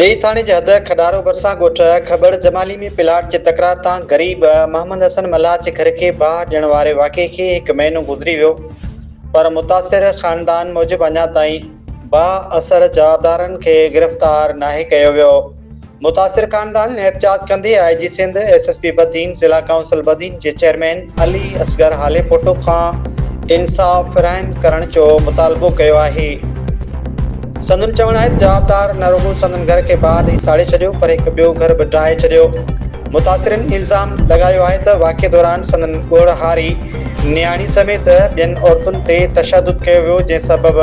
ڏيئي ٿاڻي جي حد کڏارو ڀرسان ڳوٺ کٻڙ جمالي ۾ پلاٽ جي تڪرار تان غريب محمد حسن ملاح جي گهر کي باهه ڏيڻ واري واقعي کي هڪ مهينو گذري ويو پر متاثر خاندان موجب اڃا تائين با اثر جوابدارن کي گرفتار ناهي ڪيو ويو، متاثر خاندان احتجاج ڪندي I G Sindh, S S P Badin, ضلع ڪائونسل بدين جي چيئرمين علي اصغر هاليپوٽو کان انصاف فراهم ڪرڻ جو مطالبو ڪيو آهي. سندن چوڻ آهي ته جوابدار نه رڳو سندن گهر کي بعد ئي ساڙي ڇڏيو پر هڪ ٻيو گهر به ڊاهي ڇڏيو، متاثرين الزام لڳايو آهي ته واقعي دوران سندن ڳوڙهاري، نياڻي سميت ٻين عورتن تي تشدد ڪيو ويو جنهن سبب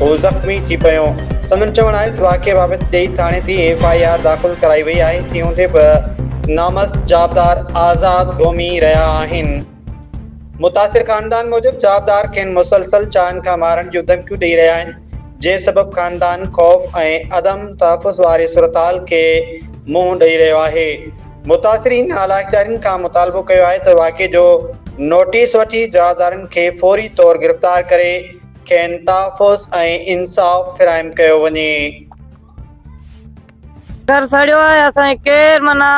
هو زخمي ٿي پيو. سندن چوڻ آهي ته واقعي بابت ڏيئي ٿاڻي تي ايف آء آر داخل ڪرائي وئي آهي تنهن هوندي به نامرد جابدار آزاد گهمي رهيا آهن. متاثر خاندان موجب جابدار کين مسلسل چائن کان مارڻ جون ڌمڪيون ڏئي رهيا آهن جنهن سبب خاندان خوف ۽ عدم تحفظ واري صورتحال کي منهن ڏئي رهيو آهي. متاثرين علاقدارين کان مطالبو ڪيو آهي ته واقعي جو نوٽيس وٺي جوابدارن کي فوري طور گرفتار ڪري کين تحفظ ۽ انصاف فراهم ڪيو وڃي. گهر سڙيو آهي اسان کي ڪير معنيٰ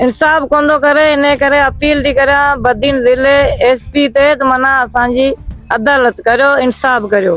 انصاف ڪوندو ڪري انهي ڪري اپيل ٿي ڪريان بدين ضلعي ايس پي تي ته معنيٰ اسان جي عدالت ڪريو انصاف ڪريو.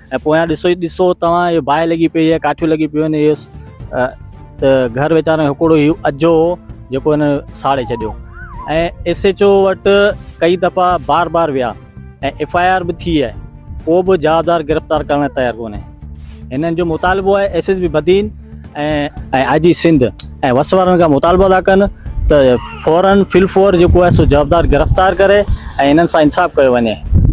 ۽ پويان ڏسو ئي ڏسو توهان اهي باهه لڳي پئي آهي ڪاٺيون لڳي پيون آهن اهو ته گهر ويچارن جو هڪڙو هي اجهو هو جيڪو هن ساڙي ڇڏيو ۽ ايس ايچ او وٽ ڪئي دفعا بار بار ويا ۽ ايف آء آر به ٿي آهي ڪو به جوابدار گرفتار ڪرڻ لاء تيار ڪونهي هنن جو مطالبو آهي S S P Badin ۽ I G Sindh ۽ وس وارن کان مطالبو ادا ڪن ته فورن فل فور جيڪو آهي سو جوابدار گرفتار ڪري ۽ هنن سان انصاف ڪيو وڃي